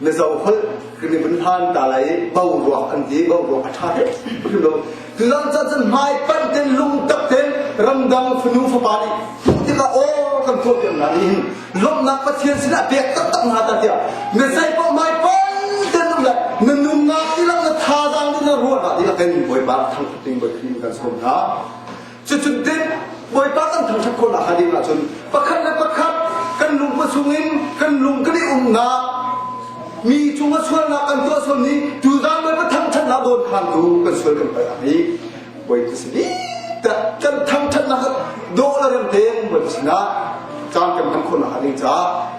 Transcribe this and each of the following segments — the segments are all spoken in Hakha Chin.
na zoholh kan i vun hlan ta lai boruak an ti boruak a ṭha tuk cu zong cah cun hmai panh ten lungtak ten ramdang fanu fapa nih tuh tikah aw kan tuah piak hna nih lawmhnak pathian sinah pek taktak hna ta tiah na sei poh mai panh ten um lai na nungak ti lang na thazaang ni na ruah hna tiah kan bawipa thang thing bawi kan som hna Cucutte Bawipa kan thangṭhat khawhnak hnga ding ahcun pakhat le pakhat kan lung a chung in kan lung kan i umnak mi cungah sualnak kan tuah sual ni tu dan Bawipa thangṭhatnak dawn khan tu kan sual kan palh hi Bawipa si ni kan thangṭhatnak doh le rem te Bawipa sinah caan kan hman khawhnak hnga ding caah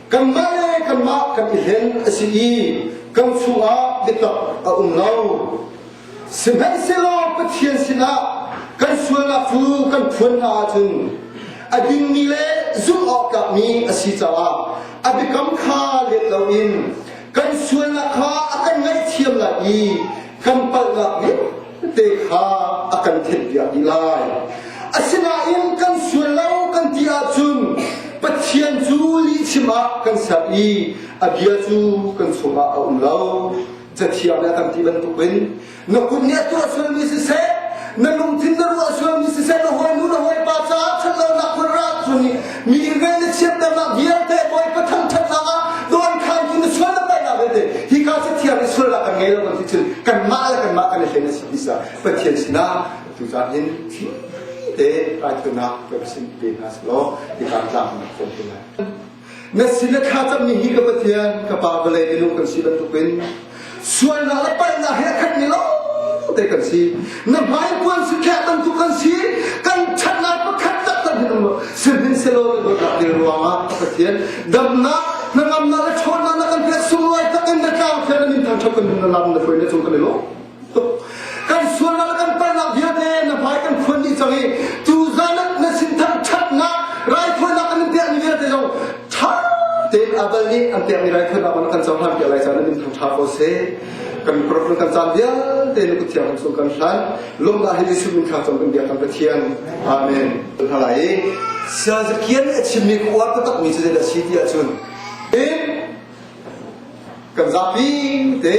kanmah le kanmah kan i hlen a si i kan chungah biatak a um lo sihmanhsehlaw Pathian sinah kan sualnak cu kan phuan hna ahcun a dingmi le zumh awktlakmi a si caah a biakam kha let loin kan sualnak kha a kan ngaihthiam lai i kan palhnak nih te kha a kan theihpiak dih lai asinain kan sual lo kan ti ahcun Pathian cu lihchim ah kan ser i a bia cu kan chungah a um lo cathiang nih a kan ti bantukin na kut nih a tuah sualmi siseh na lungthin na ruah sualmi siseh na hawi nu na hawi pa caah ṭhat lonak hun ra cun Mi ilve na chiatternak vialte Bawipa thangṭhatnak ah dawnkhan in na sual na palhnak vialte hi ka si thiam i sual ah kan ngei lo kan ti cun kanmah le kanmah kan i hleng a si bisa Pathian sinah tucaan in te raifunak ka sin pe hna selaw ti kan tlang na phone pe na na sila kha cham ni hi ka Pathian ka pa vale inu kan si bantukin sualnak le palhnak hi a khat mi lawngte kan si na hmaipuan su kheh tam tuk kan si kan ṭhatnak pakhat tak tak hin um sihnin selo in rak dil ruangah Pathian damnak hnangamnak le ṭhawnnak na kan pek sunglawi tak in na tlang thian na min thang chok kan hun lam na foi na chung kan lo kan sualnak kan palnak vialte na hmai kan phuan dih cang i tu zan na sinthang ṭhatnak raithawinak an pek ni vialte zong ṭha tein abal nih an pek ni raithawinak on kan cohlan piak lai caan in thang ṭha ko se kan mikrofon kan caan vialte nu kuthiang kan sung kan hlan lomdah hi Jesuh min kha cong kan bia kan pathian amen halai sian zakian a chimmi kuar ka takmi cu zeidah si ti ahcun in kan zapi te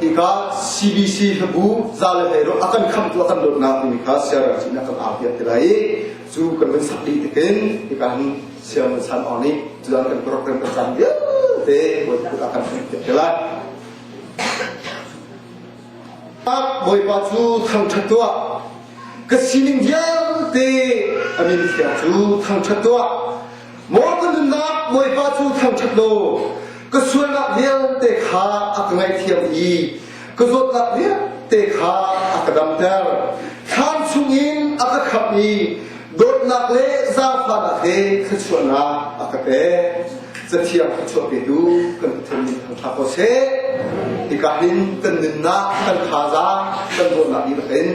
hika CBC hlabu za le hlei a kan kham tu a kan dawtnak timi kha siarang cin a kan a piat lai cu kan van sakli takin hika hin siarang san on ni cudan kan program kan chan vialte a kan piat lai bawipa cu thangthat tuah ka sining vialte amin thiang cu thangthat tuah Maw ka nunnak Bawipa cu thangṭhat law ka sualnak vialte kha a ka ngaihthiam i ka zawtnak vialte kha a ka damter. Thlan chungin a ka khamh i dawtnak le zaangfahnak he thluachuahnak a ka pek. Cathiang thluachuah petu kan Pathian nih thangṭha ko seh. Hika hin kan nunnak, kan thazaang, kan dawtnak dihlak in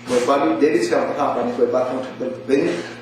Bawipa nih David siangpahrang kan Bawipa thangṭhat bantukin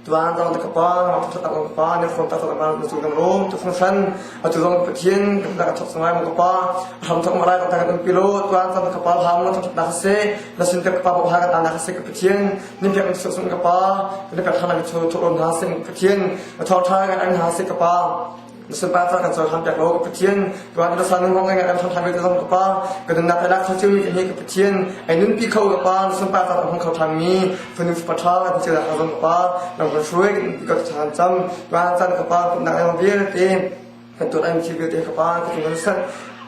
Tuan dang ka pa, ngakṭhat tak ka pa, ne fon tak ka pa, nu cu kan rum, tu fun san, atu zong Pathian kan tak thok sungai ma ka pa, ham thok ma rai ka kan um pilo, tuan tam ka pa ham ma thok na ka se, na sin ka pa ha ka ta na ka se ka Pathian, nin pek su sun ka pa, ne ka thana ka chu thok na sen Pathian, thor thai kan an ha se ka pa. na sunpa ca kan cohlan piak law ka Pathian tuan na san wong ngai kan tham than ka zong ka pa ka nun nak lak chu hi ka Pathian ai nun pi kho ka pa na sunpa ca hong kho thang mi funu pa tha ka ti ka zong ka pa na ka shuai ka chan cham tuan chan ka pa na na vir te kan tu ai chi bi te ka pa ka tu san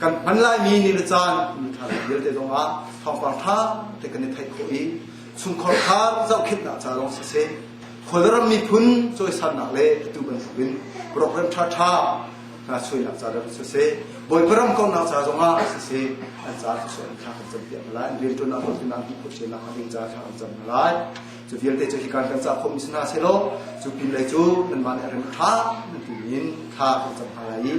kan hman laimi ni le caan mi tha vialte zongah thawngpang tha te kan i theih khawh i chungkhar kha zohkhinhnak ca lawng si se khualram miphun cawisannak le atu bantukin program tha tha hna suainak ca ram si se bawiparam kongnak ca zongah si se an ca su an tha kan cam piak lai an rian tuan nak tuan nan ti khoshe nak an ca tha an cam lai Cu vialte cu hika kan cah khawhmi si hna sehlaw cu pinlei cu nanmah nih rem ṭha nan timi in thla kan cam hna lai i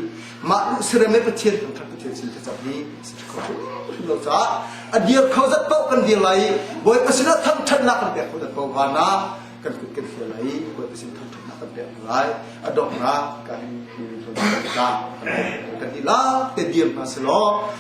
mah lu sirem le Pathian kan khat Pathian sin thacam hi si kho hrim lo caah a dir kho zat paoh kan dir lai i Bawipa sinah thangṭhatnak kan pek kho zat paoh vanah kan kut kan fial lai i Bawipa sin thangṭhatnak kan pek lai a donghnak kan in kan dihlak te dir hna selaw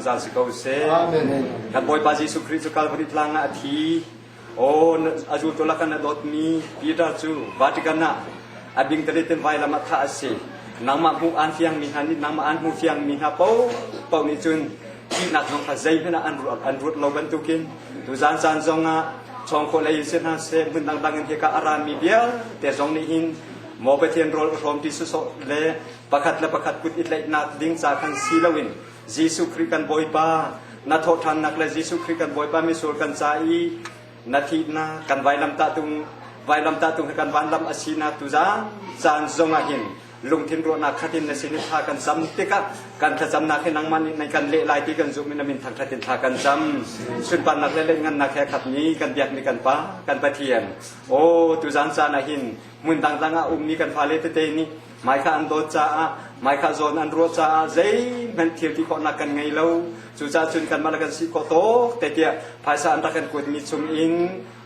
zungzal si ko seh. Kan Bawipa Jesuh Khrih cu Kalvari tlang ah a thi. Aw, a zultu lakan a dawtmi Peter cu Vatican ah a bingtali tem vailam ah thah a si. Nangmah hmuh aan fiangmi hna nih nangmah aan hmuh fiangmi hna paoh paoh nih cun thihnak zong kha zeihmanh ah an ruat, an ruat lo bantukin tuzan caan zong ah chawng khawh lei si hna seh hmun dangdang in hika a rami vialte zong nih hin maw Pathian rawl a hrawm ti sawsawh le pakhat le pakhat kut i tlaihnak ding ca khan si loin Jesuh Khrih kan Bawipa, na thawhṭhannak le Jesuh Khrih kan Bawipa misual kan ca i na thihnak kan vailamtahtung vailamtahtung hi kan vanlam a sinak tuzan caan zong ah hin lungthin ruahnak khatin na sin i tha kan cam tikah kan thlacamnak hi nangmah nih naih kan leh lai ti kan zumh in na min thangthatin tha kan cam sunparnak le lehngannak he khatmi kan biakmi kan pa kan pathian aw tuzan caan ah hin hmun dangdang ah ummi kan fale tete nih Mai kha an dawt caah, mai kha zawn an ruah caah zeihmanh thil ti khawhnak kan ngei lo. Cucaah cun kanmah le kan si khawh tok te tiah phaisa an rak kan kuatmi chung in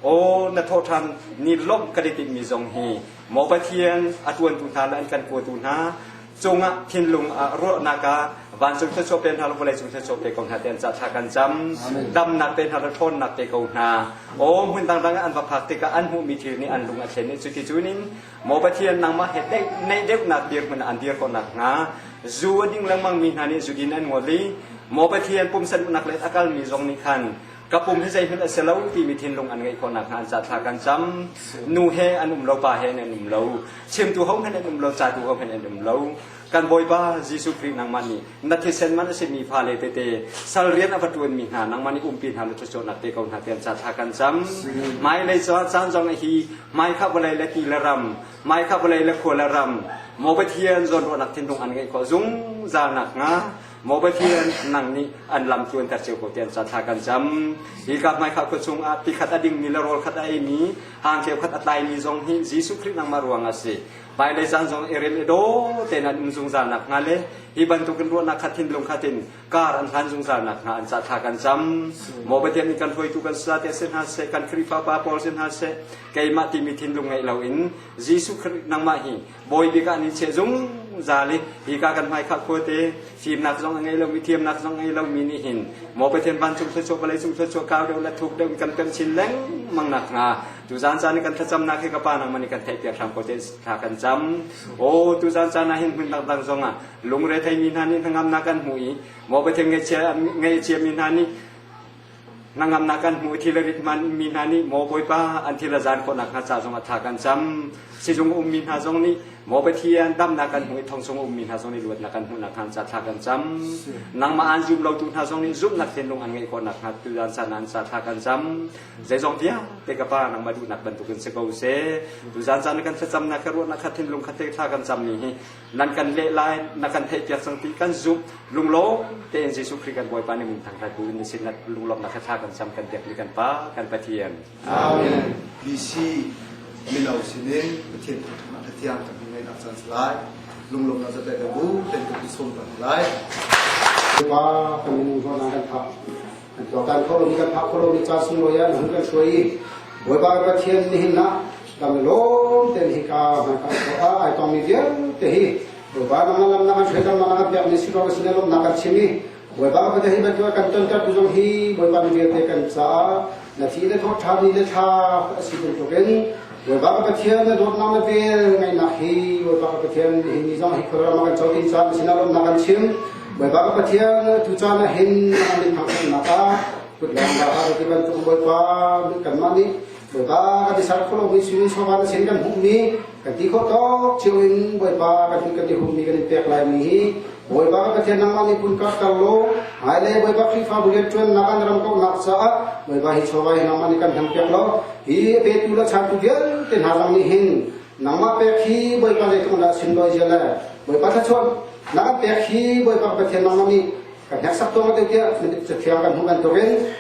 aw na thawh ṭhan ni lawmh kan i timhmi zong hi maw Pathian a ṭuantu hna le an kan kuatu hna cungah thinlung ah ruahnak ah vancung thluachuah pe hna le vawlei cung thluachuah pe ko hna te an cah thla kan cam damnak te hna le ṭhawnnak te ko hna aw hmun dangdang an va phak tikah an hmuhmi thil nih an lung a thlen i cuti cunin Maw Pathian nangmah he neih deuhnak dirhmun an dir ko nakhnga zu a ding lengmang mi hna nih zugin an ngol i Maw Pathian pumsa duhnak le a kalmi zong nih khan ka pum hi zeihmanh a si lo timi thinlung an ngeih khawh nakhnga an ca thla kan cam nu he an um lo pa he an um lo chimtu hohmanh an um lo catu hohmanh an um lo Kan Bawipa Jesuh Khrih nangmah nih na thisen man a simi fale tete, sal rian a va ṭuanmi hna nangmah nih umpi hna law thluachuahnak pe ko hna tiah ca thla kan cam. Hmailei caah caan zong a hi, hmai kha vawlei le ti le ram, hmai kha vawlei le khua le ram, Maw Pathian zawnruahnak thinlung an ngeih khawh zungzal nakhnga, Maw Pathian nang nih an lam tluanter cio ko tiah ca thla kan cam. Hi ka hmai kha khua chung ah ti khat a dingmi le rawl khat a eimi, hang cheu khat a tlaimi zong hi Jesuh Khrih nangmah ruangah a si. Hmailei caan zong i rel i daw tein an um zungzal nakhnga le hi bantuk in ruahnak khat hin lung khat in kar an hlan zungzal nakhnga an cah tha kan cam. Maw Pathian nih kan hruaitu kan sa te se hna se kan Khrihfa pa Paul se hna se keimah timi thinlung ngeih lo in Jesuh Khrist nangmah hi bawi bik ah ni che zungzal i hi ka kan hmai khak khua te fimnak zong a ngei lo mi thiamnak zong ngei lo mi nih hin maw Pathian vancung thluachuah vawlei cung thluachuah kau deuh le thuk deuh in kan pemh chin lengmang nakhnga Tu zan caan i kan thlacamnak hi ka pa nangman i kan theihpiak hram ko tein thla kan cam. Aw tu zan caan ah hin hmun dangdang zong ah lungre theimi hna nih hnangamnak kan hmu i maw Pathian ngeichia ngeichia mi hna nih hnangamnak kan hmu thil rit man mi hna nih maw Bawipa an thil zan khawnak hna ca zong ah tha kan cam. Sizung um mi hna zong nih maw Pathian damnak kan hmu i thong chung um mi hna zong nih luatnak kan hmuhnak hna ca tha kan cam. Nangmah an zum lo tu hna zong nih zumhnak thinlung an ngeih khawnak hna tu zan caan an ca tha kan cam. zeizong vialte ka pa nangmah duhnak bantuk in si ko seh tu zan zan kan thlacamnak ka ruahnak kha thinlung kha thei thla kan cam ni hi nan kan leh lai na kan theihpiak cang ti kan zumh lunglawm tein Jesuh Khrih kan Bawipa ni mun thang kai bu in sin lunglawm na kha tha kan cam kan tiak ni kan pa kan pathian amen BC mino sinin pathian thangthat pathian kan ngai nak chan lai lunglawm na zate ka bu ten ka sum kan lai ma kan nu zo na kan tha tuan kho lo kan phak kho lo ca sung lo ya hun kan hruai bawipa ka pathian ni hin na dam lom te hi ka man ka so a ai tong mi vial te hi bawipa na lam na kan hruai kan na kan piak ni si ko ka sine lom na kan chimi bawipa ka pathian hi ban kan ton tar bujong hi bawipa ni vial te kan ca na thi le thok tha ni le tha asi tung token Bawipa Pathian na dawtnak le vel ngaihnak hi Bawipa Pathian hi ni zong hi khuaram kan co tin caan sinah lawmnak kan chim Bawipa Pathian tu caan ah hin an in thangnak ah kutlam da ha ti bantuk Bawipa kanmah nih Bawipa kan tisar kholo mi sinin sofa na sin kan hmuhmi kan ti khawt tok chiu in Bawipa kan kan ti humi kan in pek lai mi hi Bawipa ka Pathian nangmah nih pun karter law ai le Bawipa Khrihfabu rianṭuannak an ram kauhnak caah Bawipa hi chawva hi nangmah nih kan hmang piak lo hi petu le changtu vialte hna zong nih hin nangmah pek hi Bawipa zeitluk dah sin loi zia le Bawipa thlachuan nang pek hi Bawipa Pathian nangmah nih kan hneksak tuang teo tiah cathiang kan hmuh bantukin